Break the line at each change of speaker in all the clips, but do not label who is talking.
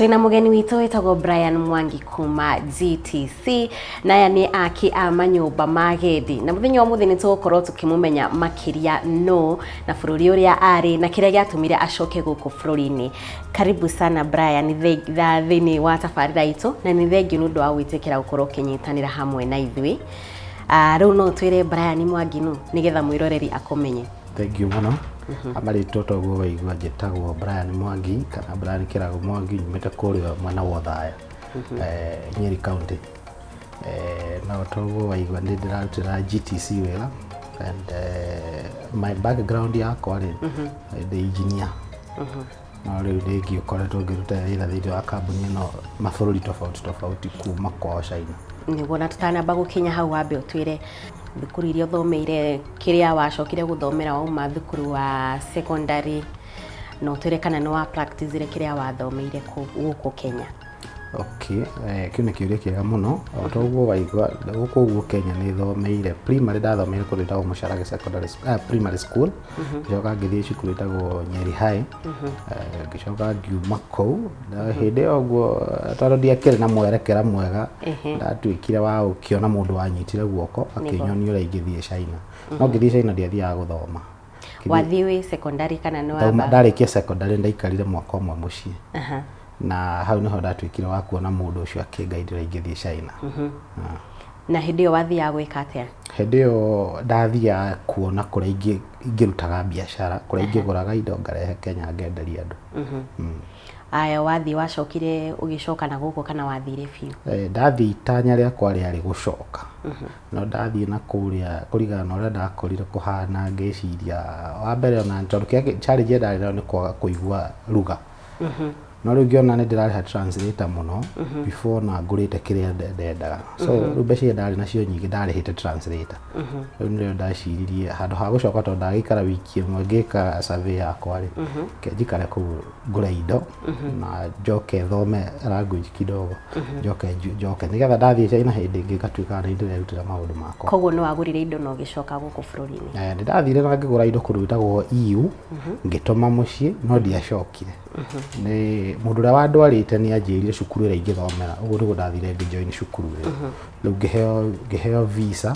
Twĩna mũgeni witũ wĩtagwo Brian Mwangi kuma GTC na aya nĩ aki a manyũmba ma gethi na mũthenya wa mũthĩ nĩ tũgũkorwo tũkĩmũmenya makĩria no na bũrũri ũrĩa arĩ na kĩrĩa gĩatũmire acoke gũkũ bũrũri-inĩ karibu sana Brian thĩ- tha- thĩinĩ wa tabarĩra itũ na nĩ thengiũ nĩ ũndũ wa gwĩtĩkĩra gũkorwo ũkĩnyitanĩra hamwe na ithuĩ Ah, rĩu no twĩre Brian Mwangi nũ nĩgetha mwĩroreri akũmenye Thengiũ mũno
ama rĩtwa toguo waigua njĩtagwo Brian Mwangi kana Brian Kĩrago Mwangi nyumĩte kũrĩa mwena wa Othaya eh, Nyeri County Eh, no toguo waigua nĩ ndĩrarutĩra GTC wĩra and eh, my background yakwa rĩ ndĩ engineer No rĩu nĩ ngĩkoretwo ngĩruta wĩra thĩinĩ wa kambuni ĩno mabũrũri tofauti tofauti kuma kwao China. Nĩguo na tũtanamba
gũkinya hau wambe ũtwĩre thukuru iria ũthomeire, kĩrĩa wacokire gũthomera wauma thukuru wa secondary, na ũtwĩre kana nĩ wa practice-ire kĩrĩa wathomeire gũkũ Kenya. Okay,
eh, kĩu nĩ kĩũria kĩega mũno o ta ũguo waigua gũkũ ũguo kenya nĩ thomeire primary ndathomeire kũndũ ĩtagwo mũcarage secondary s- ah, primary school ngĩcoka ngĩthiĩ cukuru ĩtagwo nyeri high Eh, ngĩcoka ngiuma kũu na hĩndĩ ĩyo ũguo eh, tondũ ndiakĩrĩ na mwerekera mwega Ehe. ndatuĩkire wa gũkĩona mũndũ wanyitire guoko akĩnyonia ũrĩa ingĩthiĩ china no ngĩthiĩ china ndiathiaga gũthoma Kĩndũ- wathiĩ wĩ
secondary kana nĩ Ndauma- wamba ndarĩkia secondary
ndaikarire mwaka ũmwe mũciĩ Aha. na hau nĩho ndatuĩkire wa kuona mũndũ ũcio akĩngaindĩra ingĩthiĩ China Ah.
na hĩndĩ ĩyo wathiaga gwĩka atĩa hĩndĩ ĩyo
ndathiaga kuona kũrĩa ingĩ- ingĩrutaga biacara kũrĩa ingĩgũraga indo ngarehe kenya ngenderia andũ Mm.
aya wathiĩ wacokire ũgĩcoka na gũkũ kana wathire biũ Eh, ndathiĩ itanya
rĩakwa rĩarĩ gũcoka No ndathiĩ na kũrĩa kũringana na ũrĩa ndakorire kũhana ngĩciria wa mbere ona tondũ kĩrĩa challenge ĩrĩa ndarĩ nayo nĩ kwaga kũigua lugha no rĩu ngĩona nĩ ndĩrarĩha translator mũno before na ngũrĩte kĩrĩa nde- ndendaga so rĩu mbeca iria ndarĩ nacio nyingĩ ndarĩhĩte translator rĩu nĩrĩo ndaciririe handũ ha gũcoka tondũ ndagĩikara wiki ĩmwe ngĩka survey yakwa rĩ reke njikare kũu ngũre indo na njoke thome language kidogo njoke nju- njoke nigetha ndathiĩ China hĩndĩ ĩngĩ ngatuĩka nĩ ndĩrerutĩra maũndũ makwa koguo nĩ wagũrire indo na
ũgĩcoka gũkũ bũrũri-inĩ Eh, ndĩrathire na ngĩgũra
indo kũndũ gwĩtagwo EU ngĩtũma mũciĩ no ndiacokire nĩ mũndũ ũrĩa wandwarĩte nĩ anjĩrire cukuru ĩrĩa ingĩthomera ũguo nĩguo ndathire ngĩjoin cukuru ĩyo rĩu ngĩheo ngĩheo visa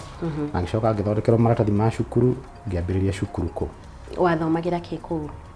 na ngĩcoka ngĩthondekerwo maratathi ma cukuru ngĩambĩrĩria cukuru kũ wathomagĩra kĩ
kũu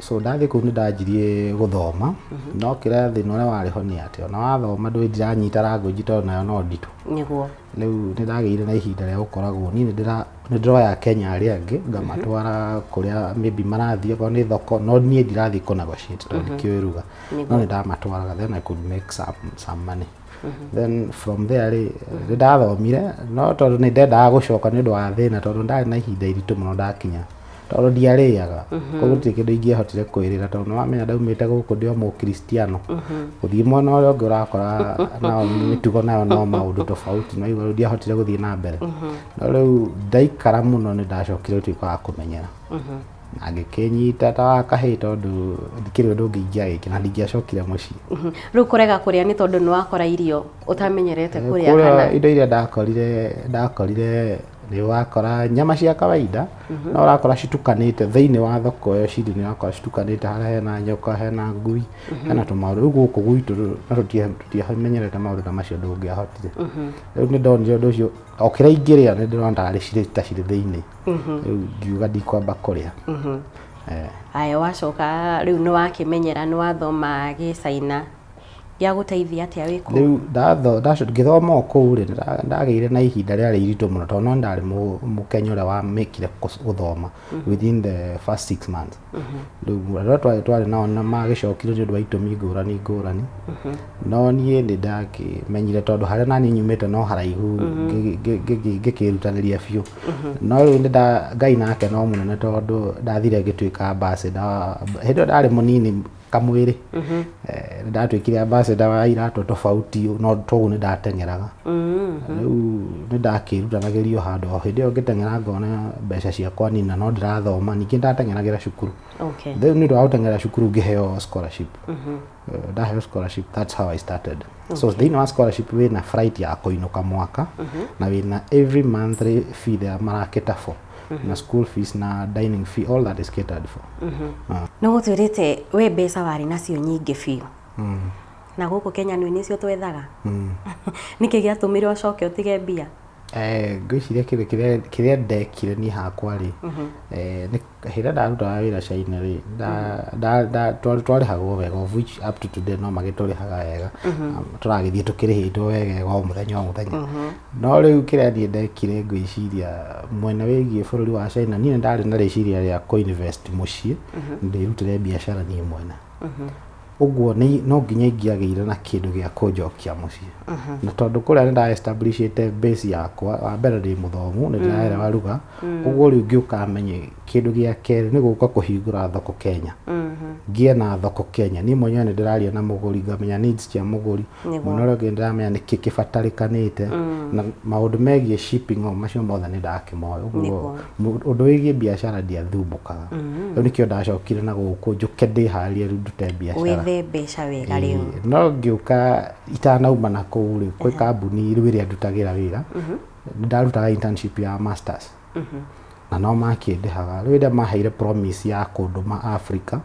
So ndathĩ kũu nĩ
ndanjirie gũthoma no kĩrĩa thĩna ũrĩa warĩ ho nĩ atĩ ona wathoma ndũĩ ndiranyita language tondũ nayo no nditũ nĩguo rĩu
nĩ ndagĩire
na ihinda rĩa gũkoragwo niĩ nĩ ndĩra- nĩ ndĩroya kenya arĩa angĩ ngamatwara kũrĩa maybe marathiĩ okorwo nĩ thoko no niĩ ndirathiĩ kũ negotiate tondũ ndikĩũĩ ruga no nĩ ndamatwaraga then I could make some, some money then from there rĩ nĩ ndathomire no tondũ nĩ ndendaga gũcoka nĩ ũndũ wa thĩna tondũ ndarĩ na ihinda iritũ mũno ndakinya tondũ ndiarĩaga koguo gũtirĩ kĩndũ ingĩahotire kwĩrĩra tondũ nĩ wamenya ndaumĩte gũkũ ndĩ o mũkristiano gũthiĩ mwena ũrĩa ũngĩ ũrakora nao mĩtugo nayo no maũndũ tofauti no igũrũ ndiahotire gũthiĩ na mbere no rĩu ndaikara mũno nĩ ndacokire gũtuĩka wa kũmenyera angĩkĩnyita ta wa kahĩĩ tondũ ndikĩrĩ ũndũ ũngĩ ingĩagĩkĩra na ndingĩacokire mũciĩ Mhm. rĩu kũrega
kũrĩa nĩ tondũ nĩ wakora irio ũtamenyerete kũrĩa kana kũrĩa indo iria ndakorire
ndakorire nĩ wakora nyama cia kawaida no ũrakora citukanĩte thĩinĩ wa thoko ĩyo cirĩ nĩ ũrakora citukanĩte harĩa hena nyoka hena ngui hena tũmaũndũ rĩu gũkũ gwitũ na tũtia- tũtiamenyerete maũndũ ta macio ndũngĩahotire rĩu nĩ ndonire ũndũ ũcio o kĩrĩa ingĩrĩa nĩ ndĩrona tarĩ cirĩ ta cirĩ thĩinĩ rĩu ngiuga ndikwamba kũrĩa Eh,
aya wacoka rĩu nĩ wakĩmenyera nĩ wathoma gĩcaina gĩagũteithia atĩa wĩ kũu rĩu ndatho- ndaco-
ngĩthoma o kũu rĩ nda- ndagĩire na ihinda rĩarĩ iritũ mũno tondũ no ndarĩ mũ- mũkenya ũrĩa wamĩkire kũs- gũthoma within the first six months rĩu arĩa twarĩ twarĩ nao na magĩcokire nĩ ũndũ wa itũmi ngũrani ngũrani no niĩ nĩ ndakĩmenyire tondũ harĩa naniĩ nyumĩte no haraihu ngĩ- ngĩ- ngĩ- ngĩkĩrutanĩria biũ no rĩu nĩ nda- ngai nake no mũnene tondũ ndathire ngĩtuĩka ambassador hĩndĩ ĩyo ndarĩ mũnini kamwĩrĩ mm-hmm. eh, nĩndatuĩkire ambassador wa iratũ tofauti no toguo nĩndateng'eraga mm-hmm. rĩu nĩndakĩrutanagĩrio handũ o hĩndĩ ĩyo ngĩteng'era ngona mbeca ciakwa nina no ndĩrathoma ningĩ ndateng'eragĩra cukuru rĩu nĩ ũndũ wa gũteng'era cukuru ngĩheo scholarship mm-hmm. eh, ndaheo scholarship that's how i started so thĩinĩ wa scholarship wĩna flight ya kũinũka mwaka na wĩna every monthly fee ya marakĩta for na school fees na dining fee all that is catered for Ah, nä gå
twä rä te we mbeca warä nacio nyingä biå mm, na gå kå kenya nä cio twethaga mm. nä kä gä atå mä re å coke å tige mbia Eh, ngwĩciria
kĩndũ kĩrĩa- kĩrĩa ndekire niĩ hakwa rĩ eh, nĩ- hĩndĩ ndarutaga wĩra caina rĩ nda- nda- nda- twa- twarĩhagwo wega of which up to today no magĩtũrĩhaga wega Um, tũragĩthiĩ tũkĩrĩhĩtwo wega o mũthenya o mũthenya No rĩu kĩrĩa niĩ ndekire ngĩciria mwena wĩgiĩ bũrũri wa China, niĩ ndarĩ na rĩciria rĩa kũ invest mũciĩ, ndĩrutĩre biacara niĩ mwene. Ũguo nĩ- no nginya ingĩagĩire na kĩndũ gĩa kũnjokia mũciĩ. Na tondũ kũrĩa nĩ nda establishĩte base yakwa, wa mbere ndĩ mũthomu, nĩ ndĩraerewa ruga, ũguo rĩu ngĩũka menye kĩndũ gĩa kerĩ nĩ gũka kũhingũra thoko Kenya. Ngĩe na thoko Kenya. Niĩ mwenyewe nĩ ndĩraria na mũgũri, ngamenya needs cia mũgũri, Nĩguo. Mũno ũrĩa ũngĩ ndĩramenya nĩkĩ kĩbatarĩkanĩte mm. na maũndũ megiĩ shipping o macio mothe nĩ ndakĩmoĩ ũguo ũndũ wĩgiĩ biacara ndiathumbũkaga mm. rĩu nĩkĩo ndacokire na gũkũ njũke ndĩharĩrie rĩu ndute biacara wethe mbeca
wega rĩu no ngĩũka
itanauma na kũu rĩ kwĩ kambuni rĩu ĩrĩa ndutagĩra wĩra mm-hmm. ndarutaga internship ya masters na no makĩndĩhaga rĩu rĩrĩa maheire promise ya kũndũma Africa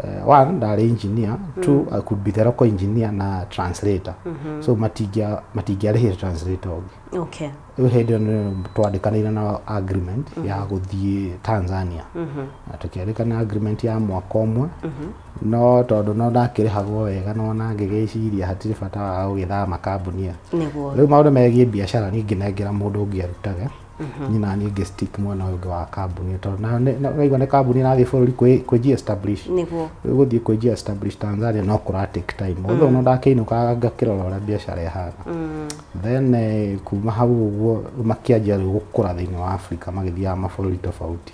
eh, one ndarĩ engineer two I could be the local engineer na translator so matingĩa matingĩarĩhire translator ũngĩ okay rĩu hĩndĩ ĩyo
nĩ
twandĩkanĩire na agreement ya gũthiĩ Tanzania na tũkĩandĩkana agreement ya mwaka ũmwe No tondũ no ndakĩrĩhagwo wega no ona ngĩgĩciria hatirĩ bata wa gũgĩthama kambuni ĩyo. Nĩguo. Rĩu maũndũ
megiĩ biacara
niĩ ngĩnengera mũndũ ũngĩ arutage niĩ na niĩ ngĩ stick mwena ũyũ ũngĩ wa kambuni ĩyo tondũ na- nĩ- na- ũraigua nĩ kambuni ĩrathiĩ bũrũri kwĩ- kwĩji establish Nĩguo. Rĩu gũthiĩ
kwĩji establish
Tanzania no kũra take time although no ndakĩinũkaga ngakĩrora ũrĩa biacara ĩhana then eh, kuma hau ũguo makĩanjia rĩu gũkũra thĩinĩ wa Africa magĩthiaga mabũrũri tofauti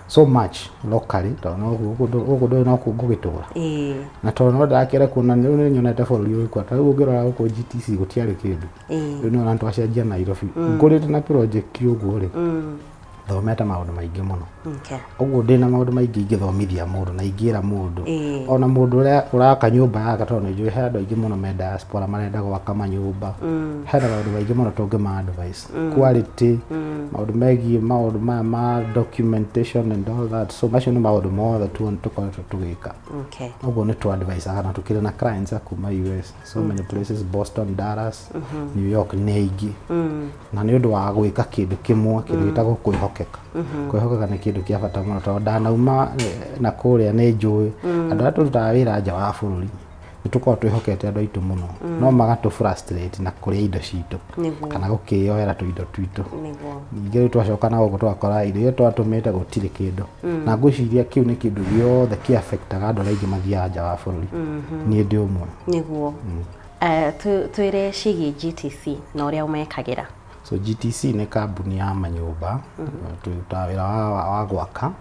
so much locally tondũ no gũkũ- gũkũ ndũ- gũkũ ndũĩ no kũ ngũgĩtũra ĩĩ na tondũ no ndakĩre kuona rĩu nĩ nyonete bũrũri ũyũ kwa tarĩu ũngĩrora gũkũ GTC gũtiarĩ kĩndũ ĩĩ rĩu nĩ ũrona twacenjia Nairobi ngũrĩte na project ũguo rĩ Mm, thomete maũndũ maingĩ mũno okay. ũguo ndĩ na maũndũ maingĩ ingĩthomithia mũndũ na ingĩra mũndũ Ĩĩ. ona mũndũ ũrĩa ũraka nyũmba yake tondũ nĩ njũĩ he andũ aingĩ mũno me diaspora marenda gwaka manyũmba hena maũndũ maingĩ mũno tũngĩma advice quality maũndũ megiĩ maũndũ maya ma documentation and all that so macio nĩ maũndũ mothe tu tũkoretwo tũgĩka okay ũguo nĩ tũ advise na tũkĩrĩ na clients a kuma US so many places Boston Dallas New York nĩ aingĩ na nĩ ũndũ wa gwĩka kĩndũ kĩmwe kĩndũ gĩtagwo kwĩhokeka kwĩhokeka nĩ kĩndũ kĩa bata mũno tondũ ndanauma eh, na kũrĩa nĩ njũĩ andũ arĩa tũrutaga wĩra nja wa bũrũri nĩ tũkoragwo twĩhokete andũ aitũ mũno mm. no magatũ frustrate na kũrĩa indo citũ kana gũkĩyoera tũindo twitũ ningĩ rĩu twacoka na gũkũ twakora indo iria twatũmĩte gũtirĩ kĩndũ mm. na ngwĩciria kĩu nĩ kĩndũ gĩothe kĩ affectaga andũ arĩa aingĩ mathiaga nja wa bũrũri mm-hmm. niĩ ndĩ ũmwe nĩguo mm. eh,
twĩre ciĩgiĩ GTC na ũrĩa ũmekagĩra So GTC
nĩ kambuni ya manyũmba tũrutaga wĩra wa, wa, wa gwaka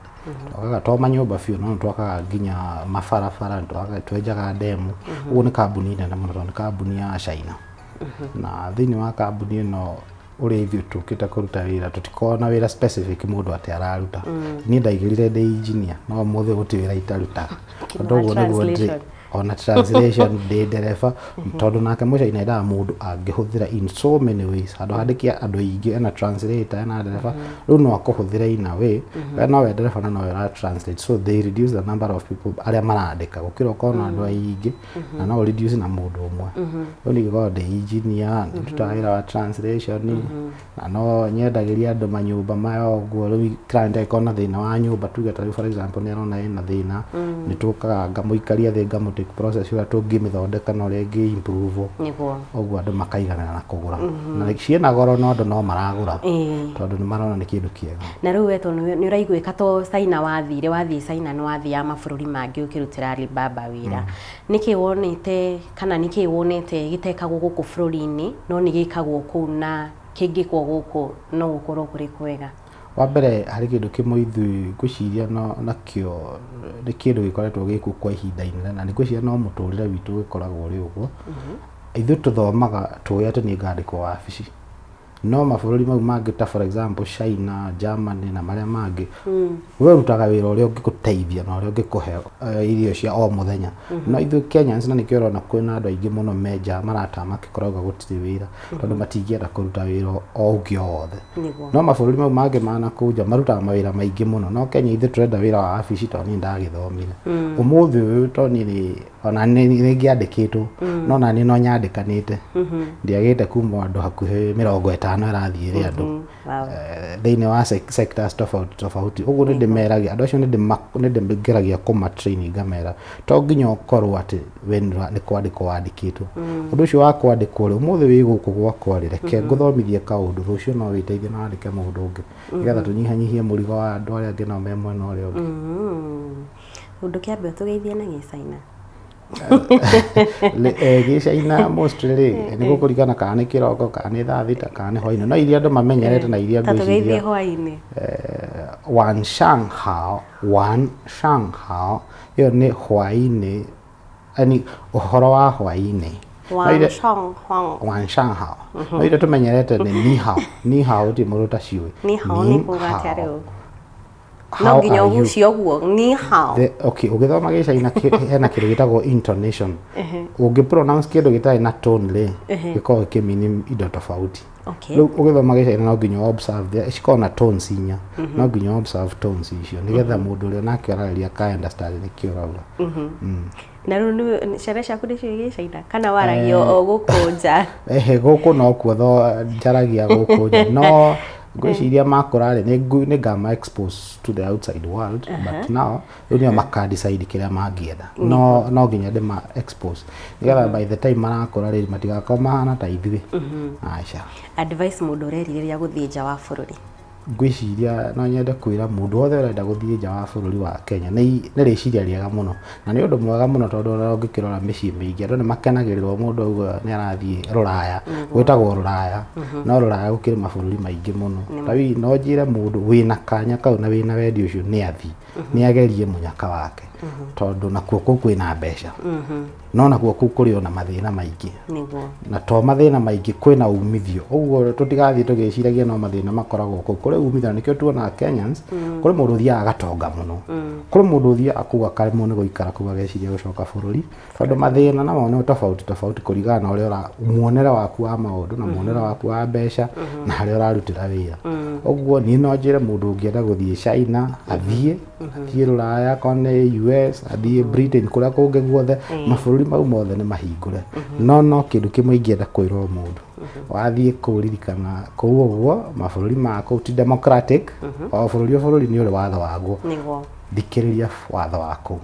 twakaga to manyũmba biũ no twakaga nginya mabarabara nĩtwakaga- twenjaga ndemu ũguo nĩ kambuni nene mũno tondũ nĩ kambuni ya China na thĩinĩ wa kambuni ĩno ũrĩa ithuĩ tũkĩte kũruta wĩra tũtikoragwo na wĩra specific mũndũ atĩ araruta niĩ ndaigĩrĩre ndĩ engineer no ũmũthĩ gũtirĩ wĩra itarutaga Tondũ ũguo nĩguo ndĩ- Translation. ona translation ndĩ ndereba tondũ nake mũico inendaga mũndũ angĩhũthĩra in so many ways handũ handĩke andũ aingĩ ena translator ena ndereba rĩu no akũhũthĩre in a way we no we ndereba na no we ũra translate so they reduce the number of people arĩa marandĩka gũkĩra ũkorwo na andũ aingĩ na no reduce na mũndũ ũmwe rĩu ningĩkorwo ndĩ engineer nĩndutaga wĩra wa translation na no nyendagĩria andũ manyũmba maya ũguo rĩu client angĩkorwo na thĩna wa nyũmba tuge ta rĩu for example nĩ arona ena thĩna nĩ tũkaga ngamũikaria thĩ ngamũ take process ũrĩa tũngĩmĩthondeka na ũrĩa ĩngĩ improve nĩguo ũguo andũ
makaiganana
na kũgũra na ciĩna goro no andũ no maragũra Ĩĩ. tondũ nĩ marona nĩ kĩndũ kĩega na rĩu we tondũ nĩ
ũraiguĩka to China wathire wathiĩ China nĩ wathiaga mabũrũri mangĩ ũkĩrutĩra Alibaba wĩra nĩkĩ wonete Kana nĩ kĩĩ wonete gĩtekagwo gũkũ bũrũri-inĩ no nĩ gĩkagwo kũu na kĩngĩkwo gũkũ no gũkorwo kũrĩ kwega? Wa mbere
harĩ kĩndũ kĩmwe ithuĩ ngwĩciria nakĩo nĩ kĩndũ gĩkoretwo gĩ kuo kwa ihinda inene na ngwĩciria no mũtũrĩre witũ ũgĩkoragwo ũrĩ ũguo. Ithuĩ tũthomaga tũĩ atĩ nĩ ngandĩkwo wabici. no mabũrũri mau mangĩ ta for example China, Germany na marĩa mangĩ we rutaga wĩra ũrĩa ũngĩgũteithia na ũrĩa ũngĩkũhe eh, irio cia o mũthenya no ithuĩ Kenyans na nĩkĩo ũrona kwĩna andũ aingĩ mũno menja marata makĩkoragwo gũtirĩ wĩra tondũ matingĩenda kũruta wĩra o ũngĩ o wothe Nĩguo. no mabũrũri mau mangĩ manakunja marutaga mawĩra maingĩ mũno no Kenya ithuĩ tũrenda wĩra wa wabici tondũ niĩ ndagĩthomire ũmũthĩ ũyũ tondũ niĩ nĩ ona nĩ nĩ ngĩandĩkĩtwo no na nĩ no nyandĩkanĩte ndiagĩte kuma andũ hakuhĩ mĩrongo ĩtano ĩrathiĩ ĩrĩ andũ Wow. eh, thĩinĩ wa sec- sectors tofauti tofauti ũguo nĩ ndĩmeragia andũ acio nĩ ndĩma- nĩ ndĩngeragia kũma training ngamera to nginya ũkorwo atĩ we nĩ ũra- nĩ kwandĩkwo wandĩkĩtwo ũndũ ũcio wa kwandĩkwo rĩ ũmũthĩ wĩ gũkũ gwakwa rĩ reke ngũthomithie kaũndũ rũciũ no wĩteithie na wandĩke mũndũ ũngĩ nĩgetha tũnyihanyihie mũrigo wa andũ arĩa angĩ nao me mwena ũrĩa ũngĩ Mm.
Ũndũ kĩambe ũtũgeithie na gĩcaina.
Eh, gĩcaina mostly rĩ eh, nĩ gũkũringana kana nĩ kĩroko kana nĩ thaa thita kana nĩ hwainĩ no iria andũ mamenyerete na iria ngwĩciria hwainĩ
eh,
wan shang hao wan shang hao ĩyo nĩ hwainĩ yani ũhoro wa hwainĩ wanshangha mhm. no iria tũmenyerete nĩ nihao nihao ti mũndũ ta ciũĩ nihao nĩ kuga
atĩa rĩu no How nginya are you? ũgucie ũguo ni hao The- okay ũgĩthoma
gĩcaina kĩ- hena kĩndũ gĩtagwo intonation ũngĩ pronounce kĩndũ gĩtarĩ na tone rĩ gĩkoragwo gĩkĩmini indo tofauti Okay. rĩu ũgĩthoma gĩcaina no nginya ũ observe the- cikoragwo na tones inya no nginya ũ observe tones icio nĩgetha mũndũ ũrĩa nake ũrarĩria ka understand nĩkĩ ũrauga na rĩu
nĩ- ciana ciaku nĩcio igĩ China kana waragia o gũkũ nja ehe gũkũ no
kuo tho njaragia gũkũ nja no ngwĩciria makũra rĩ nĩ ngu- nĩ ngama expose to the outside world but now rĩu nĩo maka decide kĩrĩa mangĩenda no no nginya ndĩma expose nĩgetha by the time marakũra rĩ matigakorwo mahana ta ithuĩ aca advice mũndũ
ũrerirĩria gũthiĩ nja wa bũrũri Ngwĩciria
no nyende kwĩra mũndũ wothe ũrenda gũthiĩ nja wa bũrũri wa Kenya nĩ rĩciria rĩega mũno, na nĩ ũndũ mwega mũno tondũ ona ũngĩkĩrora mĩciĩ mĩingĩ andũ nĩ makenagĩrĩrwo mũndũ auga nĩ arathiĩ rũraya, gwĩtagwo rũraya, no rũraya gũkĩrĩ mabũrũri maingĩ mũno. Ta rĩu no njĩre mũndũ wĩna kanya kau na wĩna wendi ũcio nĩ athiĩ, nĩ agerie mũnyaka wake tondũ nakuo kũu kwĩna mbeca. no naguo kuu kuri ona mathina maingi niguo na to mathina maingi kwi na umithio uguo tutigathii tugiciragia no mathina makoragwo kuu kuri umithio na nikio tuonaga Kenyans mm. kuri mundu thia agatonga muno mm. kuri mundu thia akuga kare muno guikara kuga geciria gucoka bururi tondu mathina na mone tofauti tofauti kurigana na uria ura muonere waku wa maundu na muonere mm-hmm. waku wa mbeca mm-hmm. na haria urarutira wira mm. uguo ni no njire mundu ungienda guthii China athie mm-hmm. athiĩ rũraya akorwo nĩ us athiĩ britain kũrĩa kũngĩ guothe mabũrũri mau mothe nĩ mahingũre no no kĩndũ kĩmwe ingĩenda kwĩrwo mũndũ wathiĩ kũu ririkana kũu ũguo mabũrũri ma kũu ti democratic o bũrũri o bũrũri nĩ ũrĩ watho waguo nĩguo thikĩrĩria watho wa kũu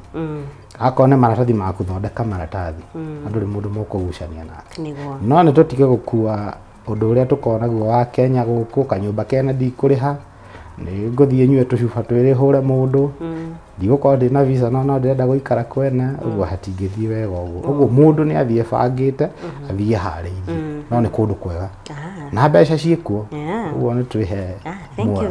akorwo nĩ maratathi maku thondeka maratathi na ndũrĩ mũndũ mũkũgucania nake nĩguo no nĩ tũtige gũkua Ũndũ ũrĩa tũkoragwo naguo wa Kenya gũkũ, kanyũmba kene ndikũrĩha, nĩ ngũthiĩ nyue tũcuba twĩrĩ hũre mũndũ, ndigũkorwo ndĩ na visa no no ndĩrenda gũikara kwene, ũguo hatingĩthiĩ wega ũguo. Ũguo mũndũ nĩ athiĩ ebangĩte, athiĩ eharĩirie. No nĩ kũndũ kwega.
Na
mbeca ciĩ kuo. Ũguo nĩ twĩhe muoyo.